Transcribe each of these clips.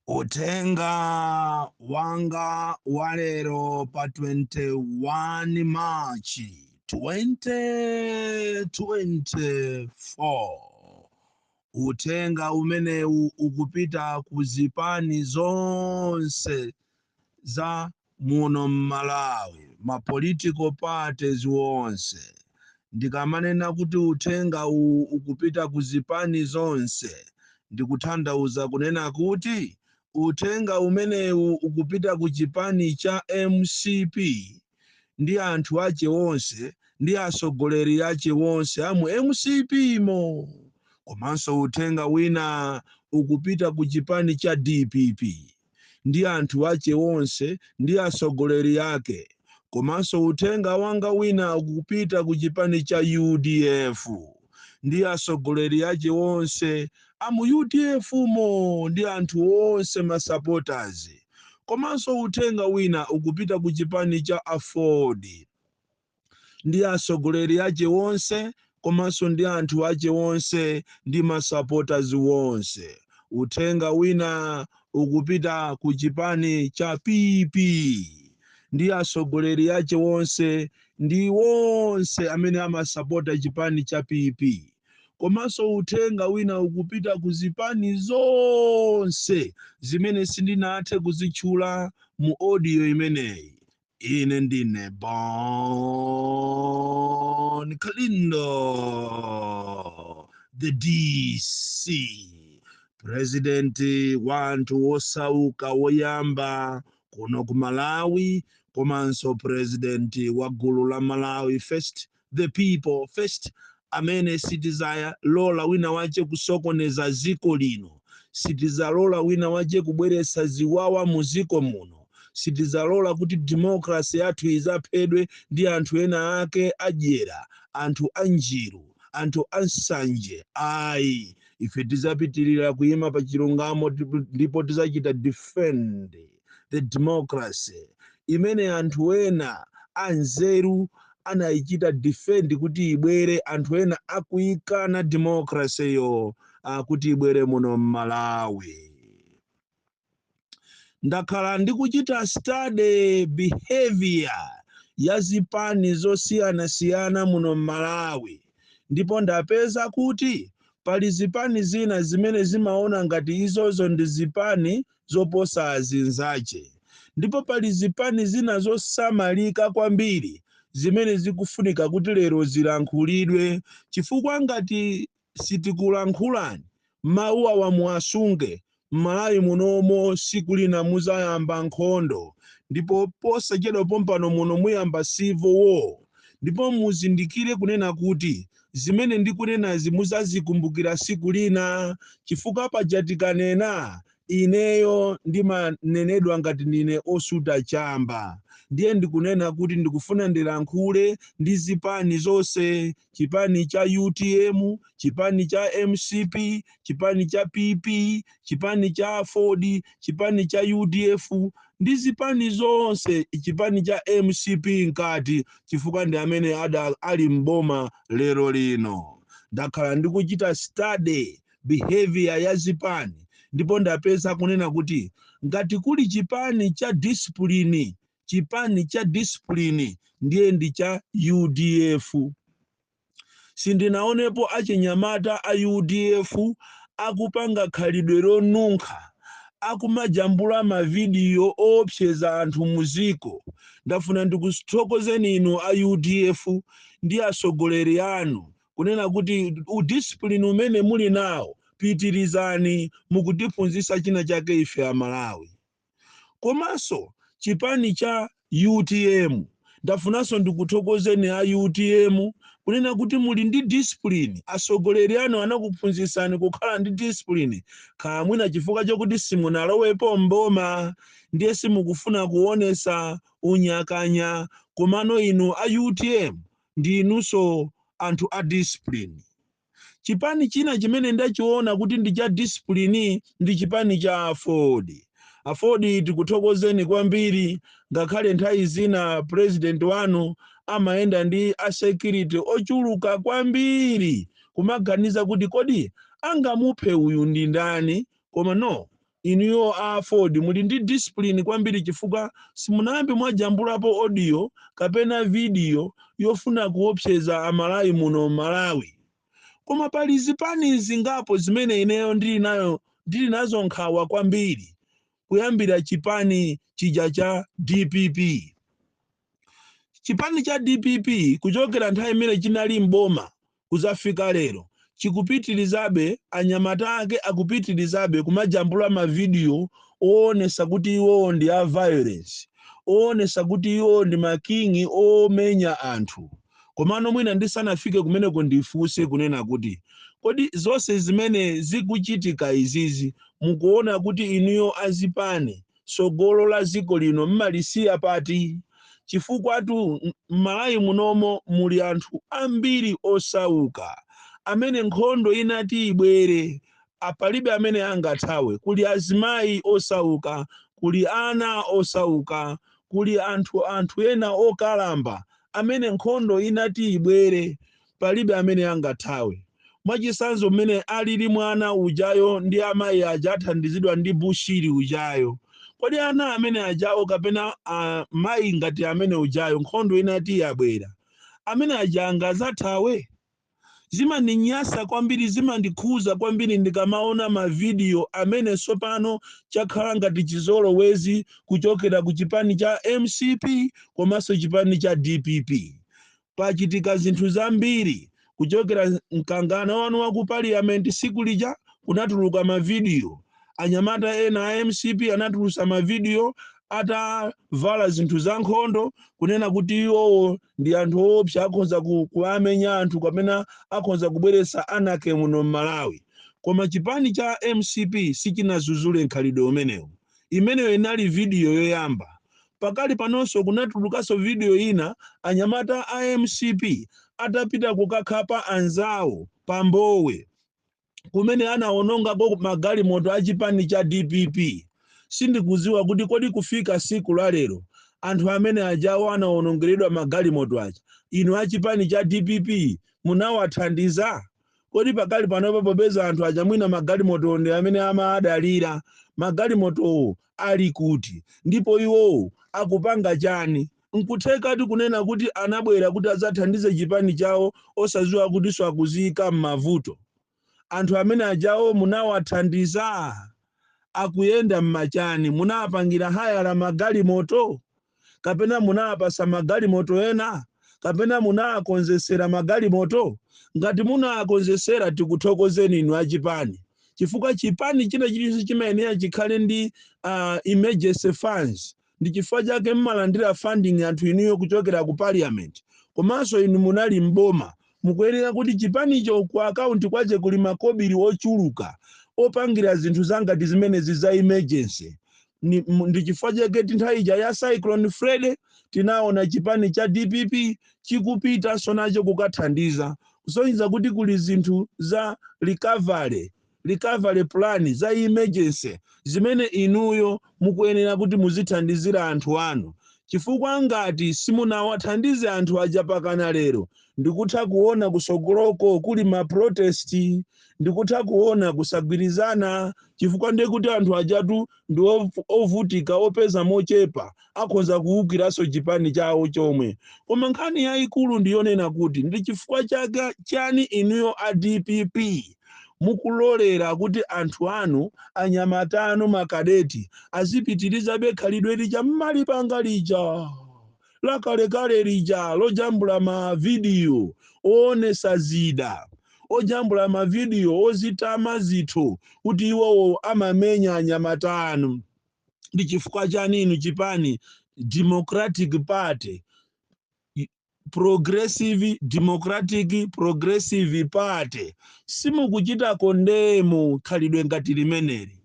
Uthenga wanga wa lero pa 21 March 2024. Uthenga umenewu ukupita ku zipani zonse za Muno mmalawi ma political parties wonse ndikamanena kuti uthenga uwu ukupita ku zipani zonse ndikutanthauza kunena kuti uthenga umenewu ukupita ku chipani cha mcp ndi anthu ache wonse ndi asogoleri ache wonse amu mcp mo komanso uthenga wina ukupita ku chipani cha dpp ndi anthu ache onse ndi asogoleri ake komanso uthenga wanga wina ukupita ku chipani cha udf ndi asogoleri ache onse a mu udf mo ndi anthu onse masupporters komanso uthenga wina ukupita ku chipani cha aford ndi asogoleri ache wonse komanso ndi anthu ache wonse ndi masupporters wonse uthenga wina ukupita ku chipani cha PP ndi asogoleri ache wonse ndi wonse amene amasapota chipani cha PP komanso uthenga wina ukupita ku zipani zonse zimene sindinathe kuzitchula mu audio imeneyi Ine ndine Bon Kalindo, the DC, presidenti wa anthu wosauka woyamba kuno ku Malawi, komanso presidenti wa gulu la Malawi First the people first amene sitizalola wina wache kusokoneza ziko lino sitizalola wina wache kubweretsa ziwawa mu ziko muno sitizalola kuti demokrasi yathu izaphedwe ndi anthu ena ake adyera anthu anjiru anthu ansanje ayi ife tizapitirira kuyima pa chilungamo ndipo tizachita defend the democracy imene anthu ena anzeru anayichita defend kuti ibwere anthu ena akuyikana democracy yo kuti ibwere muno mmalawi ndakhala ndikuchita study behavior ya zipani zosiyanasiyana muno mmalawi ndipo ndapeza kuti pali zipani zina zimene zimaona ngati izozo ndi zipani zoposa azinzache, ndipo pali zipani zina zosamalika kwambiri zimene zikufunika kuti lero zilankhulidwe, chifukwa ngati sitikulankhulani mawu awa muwasunge, m'Malawi munomo siku lina muzayamba nkhondo, ndipo posachedwa pompano muno muyamba civil war, ndipo muzindikire kunena kuti zimene ndikunenazi muzazikumbukira siku lina chifukwa paja tikanena ineyo ndimanenedwa ngati ndine osuta chamba ndiye ndikunena kuti ndikufuna ndilankhule ndi zipani zonse chipani cha utm chipani cha mcp chipani cha pp chipani cha aford chipani cha udf ndi zipani zonse chipani cha mcp mkati chifukwa ndi amene ali mboma lero lino ndakhala ndikuchita study behavior ya zipani ndipo ndapeza kunena kuti ngati kuli chipani cha discipline chipani cha discipline ndiye ndi cha udf Sindinaonepo achinyamata a udf akupanga khalidwe lonunkha, akumajambula ma video oopseza anthu mu dziko. Ndafuna ndikuthokozeni inu a udf ndi atsogoleri anu kunena kuti u discipline umene muli nawo pitilizani, mukutiphunzitsa china chake ife a Malawi. Komanso chipani cha utm ndafunanso ndikuthokozeni a utm kunena kuti muli ndi discipline atsogoleri anu anakuphunzitsani kukhala ndi discipline kaya mwina chifukwa chokuti simunalowepo m'boma ndiye simukufuna kuonetsa unyakanya komano inu a utm ndi inunso anthu a discipline. Chipani china chimene ndachiona kuti ndi cha discipline ndi chipani cha aford. Aford tikuthokozeni kwambiri ngakhale nthawi zina president wanu amayenda ndi a security ochuluka kwambiri kumaganiza kuti kodi angamuphe uyu ndi ndani koma no Inuyo a aford muli ndi discipline kwambiri chifukwa simunayambe mwajambulapo audio kapena video yofuna kuopseza a Malawi muno m'Malawi. Koma pali zipani zingapo zimene ineyo ndili nayo ndili nazo nkhawa kwambiri kuyambira chipani chija cha dpp. Chipani cha dpp kuchokera nthawi imene chinali m'boma kudzafika lero chikupitirizabe, anyamata ake akupitirizabe kumajambula mavidiyo oonesa kuti iwowo ndi a violence, oonesa kuti iwowo ndi making'i omenya anthu. Komano mwina ndisanafike kumeneko ndifunse kunena kuti, kodi zonse zimene zikuchitika izizi mukuona kuti inuyo azipani tsogolo la dziko lino mmalisiya pati? Chifukwatu m'Malawi munomo muli anthu ambiri osauka amene nkhondo itati ibwere, palibe amene angathawe. Kuli azimayi osauka, kuli ana osauka, kuli anthu anthu ena okalamba amene nkhondo inati ibwere. Palibe amene angathawe. Mwachitsanzo mmene alili mwana ujayo ndi amayi aja athandizidwa ndi Bushiri ujayo. Kodi ana amene ajawo kapena mayi ngati amene ujayo nkhondo itati yabwera, amene aja angazathawe? Zimandinyasa kwambiri zimandikhuza kwambiri ndikamaona ma video amene tsopano chakhala ngati chizolowezi kuchokera ku chipani cha mcp komanso chipani cha dpp. pachitika zinthu zambiri kuchokera mkangano wanu wa ku parliament siku lija kunatuluka mavidiyo anyamata ena a mcp anatulusa mavidiyo atavala zinthu za nkhondo kunena kuti iwowo ndi anthu oopsa akhoza kuwamenya anthu kapena akhoza kubweretsa anarchy muno m'malawi koma chipani cha mcp sichinazuzule mkhalidwe umenewu imeneyo inali vidiyo yoyamba Pakali panonso kunatulukaso video ina anyamata a mcp atapita kukakhapa anzawo pa Mbowe kumene anawononga magalimoto a chipani cha dpp. Sindikuziwa kuti kodi kufika siku la lero anthu amene ajawo anawonongeredwa magalimoto aja inu a chipani cha dpp munawathandiza? Kodi pakali panopa popeza anthu aja mwina magalimotowo ndi amene amawadalira, magalimotowo ali kuti? Ndipo iwowo akupanga chani? N'kuthekatu kunena kuti anabwera kuti adzathandize chipani chawo osadziwa kutinso akuziika m'mavuto. Anthu amene ajawo munawathandiza? akuyenda mmachani munawapangira hayala magalimoto kapena munawapasa magalimoto ena kapena munawakonzesera magalimoto ngati munawakonzesera tikuthokozeni inu achipani chifukwa chipani china chilichonse chimayenera chikhale ndi uh, emergency funds Ndi chifukwa chake mmalandira funding anthu inuyo kuchokera ku parliament. Komanso inu munali m'boma. Mukuyenera kuti chipanicho ku account kwache kuli makobili ochuluka opangira zinthu zangati zimenezi za emergency. Ndi chifukwa chake ti nthawi ija ya Cyclone Freddy tinaona chipani cha dpp chikupitanso nacho kukathandiza kusonyeza kuti kuli zinthu za recovery recovery plan za emergency zimene inuyo mukuyenera kuti muzithandizira anthu anu chifukwa ngati simunawathandize anthu aja pakana lero ndikutha kuona kusogoloko kuli maprotesti ndikutha kuona kusagwirizana chifukwa ndekuti anthu ajatu ndi ov- ovutika opeza mochepa akhoza kuwukiranso chipani chawo chomwe koma nkhani yayikulu ndi yonena kuti ndi chifukwa chani inuyo a dpp mukulolera kuti anthu anu anyamata anu makadeti azipitirizabe khalidwe lija mmalipanga lija lakalekale lija lojambula mavidiyo oonesa zida lojambula mavidiyo ozitama ndithu kuti iwowo amamenya anyamata anu ndi chifukwa chani inu chipani democratic party progressive democratic progressive party simukuchita kondemu khalidwe ngati limeneli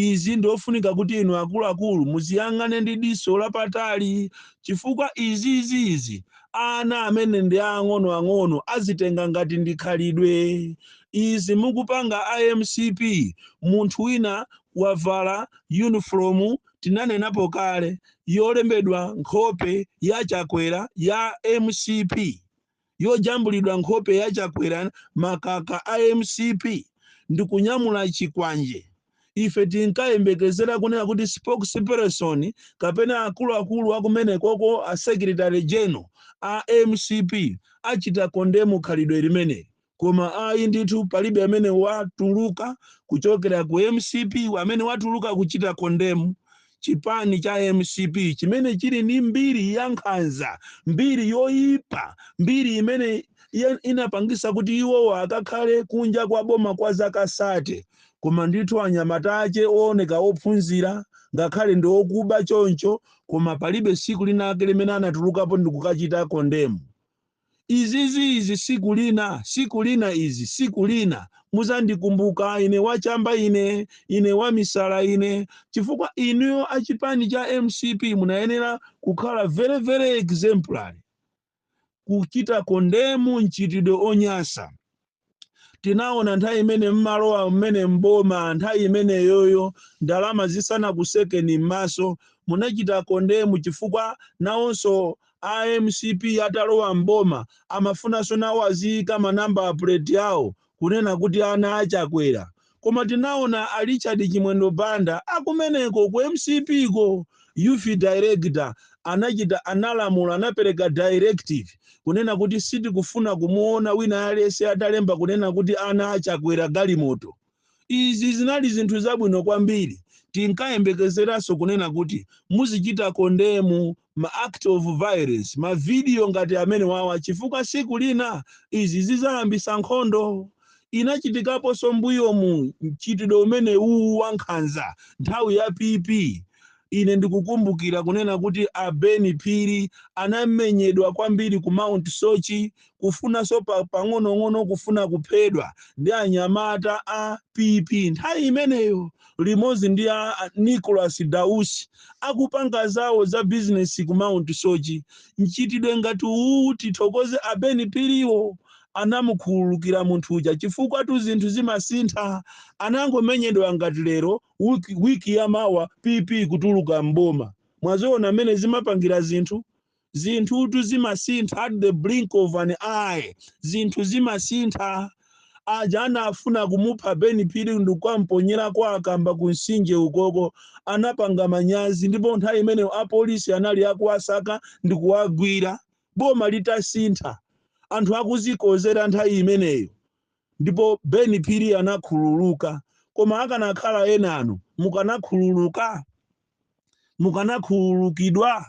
Izi ndi ofunika kuti inu akuluakulu muziyang'ane ndi diso lapatali chifukwa izizizi ana amene ndi aang'ono ang'ono azitenga ngati ndi khalidwe. Izi mukupanga a mcp munthu wina wavala yunifomu tinanenapo kale yolembedwa nkhope ya Chakwera ya mcp yojambulidwa nkhope ya Chakwera makaka a mcp ndikunyamula chikwanje ife tinkayembekezera kunena kuti spokesperson kapena akuluakulu akumenekoko a secretary general a mcp achita kondemu khalidwe limeneli koma ayi ndithu palibe amene watuluka kuchokera ku mcp amene watuluka kuchita kondemu chipani cha mcp chimene chili ndi mbiri ya nkhanza mbiri yoyipa mbiri imene inapangisa kuti iwowo akakhale kunja kwa boma kwa zaka sate koma ndithu anyamata ache ooneka ophunzira ngakhale ndi okuba choncho koma palibe siku linake limene anatulukapo ndikukachita kondemu Izizi izi siku lina siku lina izi siku lina muzandikumbuka ine wachamba ine ine wamisala ine chifukwa inuyo achipani cha mcp munayenera kukhala very very exemplary kuchita kondemu mchitidwe onyasa tinaona nthawi imene mmalowa mmene mboma nthawi imeneyoyo ndalama zisanakusekeni m'maso munachita kondemu chifukwa nawonso a mcp atalowa mboma amafunanso nawo aziyika manamba puleti awo kunena kuti ana achakwera Koma tinaona a Richard Chimwendo Banda akumeneko ku mcp ko youth director anachita analamula anapereka directive kunena kuti sitikufuna kumuona wina aliyense atalemba kunena kuti ana a Chakwera galimoto. Izi zinali zinthu zabwino kwambiri. Tinkayembekezeranso kunena kuti muzichita kondemu ma act of violence ma video ngati amene wawa chifukwa siku lina izi zizayambisa nkhondo inachitikaponso mbuyomu mchitidwe umene uwu wankhanza nthawi ya pp ine ndikukumbukira kunena kuti abeni phiri anamenyedwa kwambiri ku mount soche kufunanso pang'onong'ono kufuna kuphedwa ndi anyamata a pp nthawi imeneyo limodzi ndi a a nicholas dausi akupanga zawo za bizinesi ku mount soche mchitidwe ngati uwu tithokoze abeni phiriwo anamukhululukira munthu uja chifukwatu zinthu zimasintha anangomenyedwa ngati lero wiki ya mawa pp kutuluka mboma mwaziona mmene zimapangira zinthu zinthutu zimasintha at the blink of an eye zinthu zimasintha aja anafuna kumupha ben phiri ndikukamponyera kwa akamba ku nsinje ukoko anapanga manyazi ndipo nthawi imeneyo apolisi anali akuwasaka ndikuwagwira boma litasintha anthu akuzikozera nthawi imeneyo ndipo ben phiri anakhululuka koma akanakhala enano mukanakhululuka mukanakhululukidwa?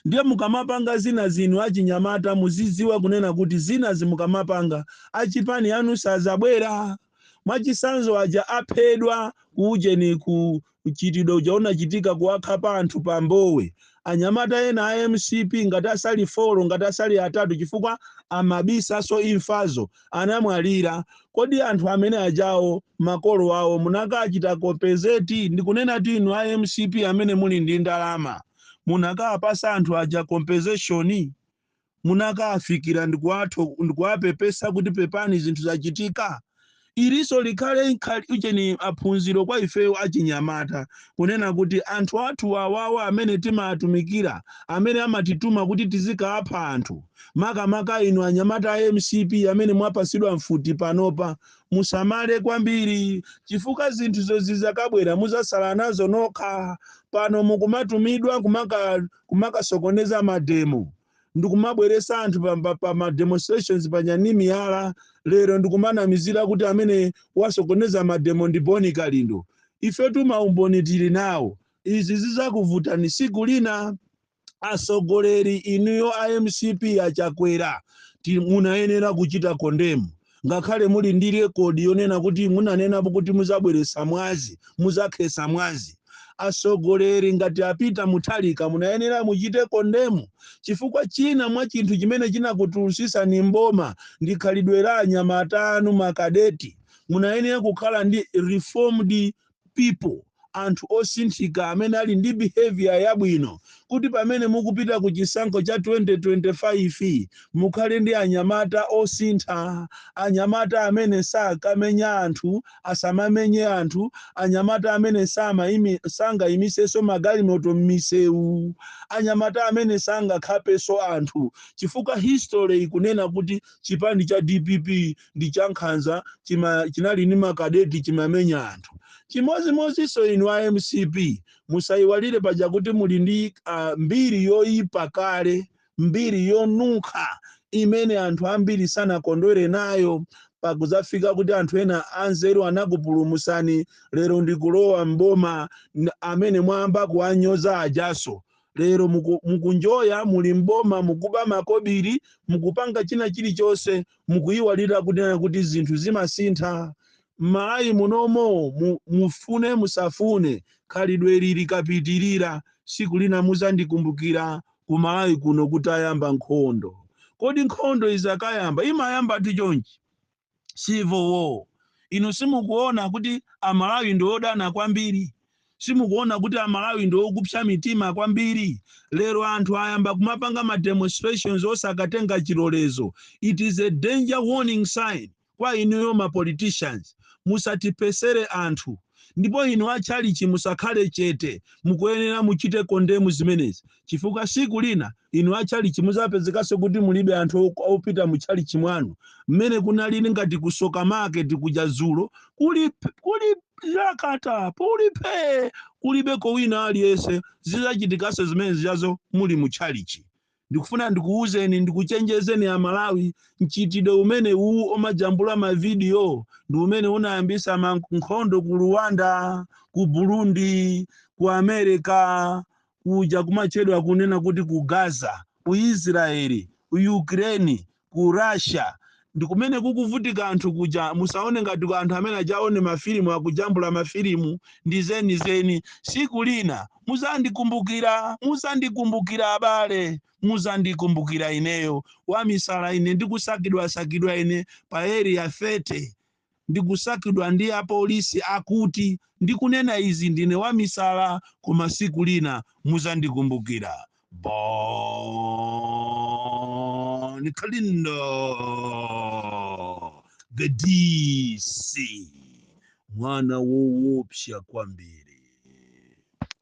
Ndiye mukamapanga zinazi inu achinyamata muzidziwa kunena kuti zinazi mukamapanga achipani anu sadzabwera. Mwachisanzo aja aphedwa ku ujeni ku mchitidwe uja unachitika kuwakhapa anthu pa mbowe. Anyamata ena a mcp ngati asali folo ngati asali atatu chifukwa amabisanso imfazo anamwalira, kodi anthu amene ajawo makolo awo munakachita compensate? Ndikunenatu inu a mcp amene muli ndi ndalama, munakawapasa anthu aja compensation? Munakawafikira ndikuwapepesa kuti pepani zinthu zachitika? Ilinso likhale ujeni phunziro kwa ifeyo achinyamata kunena kuti anthu athu awawa amene timawatumikira, amene amatituma kuti tizikawapha anthu, Makamaka inu anyamata a mcp amene mwapatsidwa mfuti panopa musamale kwambiri chifukwa zinthu zozizakabwera muzatsala nazo nokha. Pano mukumatumidwa kumakasokoneza ma demo ndikumabweretsa anthu pa ma demonstrations panja ndi miyala, lero ndikumanamizira kuti amene wasokoneza ma demo ndi Bon Kalindo. Ifetu maumboni tili nawo. Izi zizakuvutani tsiku lina. Atsogoleri inuyo a mcp a Chakwera munayenera kuchita condemn ngakhale muli ndi record yonena kuti munanenapo kuti muzabweretsa mwazi, muzakhetsa mwazi. Atsogoleri ngati a Peter Mutharika munayenera muchite condemn chifukwa china mwa chinthu chimene chinakutulutsitsani m'boma ndi khalidwe la anyamata anu ma cadet. Munayenera kukhala ndi reformed people, anthu osinthika amene ali ndi behavior yabwino kuti pamene mukupita ku chisankho cha 2025 mukhale ndi anyamata osintha, anyamata amene sakamenya anthu, asamamenye anthu, anyamata amene samaimi, sangaimiseso magalimoto m'misewu, anyamata amene sangakhapeso anthu chifukwa history ikunena kuti chipani cha DPP ndi chankhanza chima, chinali ndi makadeti chimamenya anthu chimodzimodzinso inu a mcp musayiwalire paja kuti muli ndi uh, mbiri yoyipa kale mbiri yonunkha imene anthu ambiri sanakondwere nayo pakudzafika kuti anthu ena anzeru anakupulumutsani lero ndikulowa mboma amene mwayamba kuwanyoza ajaso lero muku- mukunjoya muli mboma mukuba makobiri mukupanga china chilichonse mukuyiwalira kunena kuti zinthu zimasintha m'malawi munomo mu- mufune musafune khalidwe ili likapitirira tsiku lina muzandikumbukira ku malawi kuno kutayamba nkhondo kodi nkhondo izakayamba imayambatu chonchi civil war inu simukuona kuti amalawi ndi odana kwambiri simukuona kuti amalawi ndi okupsa mitima kwambiri lero anthu ayamba kumapanga ma demonstrations osakatenga chilolezo it is a danger warning sign kwa inuyo ma politicians musatiphetsere anthu ndipo inu atchalitchi musakhale chete mukuyenera muchite condemn zimenezi chifukwa tsiku lina inu a tchalitchi mudzapezekanso kuti mulibe anthu o- opita mu tchalitchi mwanu mmene kunalili ngati ku tsoka market kuja dzulo kuli kuli yakata kuli phee kulibeko wina aliyense zidzachitikanso zimene zijazo muli mu tchalitchi ndikufuna ndikuwuzeni ndikuchenjezeni a malawi mchitidwe umene uwu omajambula mavidiyo ndi umene unayambisa ma- nkhondo ku rwanda ku burundi ku america kuja kumatchedwa kunena kuti ku Gaza, ku Israel, ku Ukraine, ku Russia ndikumene kukuvutika anthu kuja musaone ngati anthu amene ajawo ndi mafilimu akujambula mafilimu ndi zenizeni siku lina muzandikumbukira muzandikumbukira abale muzandikumbukira ineyo wamisala ine ndikusakidwasakidwa ine pa area 30 ndikusakidwa ndi apolisi akuti ndikunena izi ndine wamisala koma siku lina muzandikumbukira bon kalindo the dc mwana wowopsya kwambiri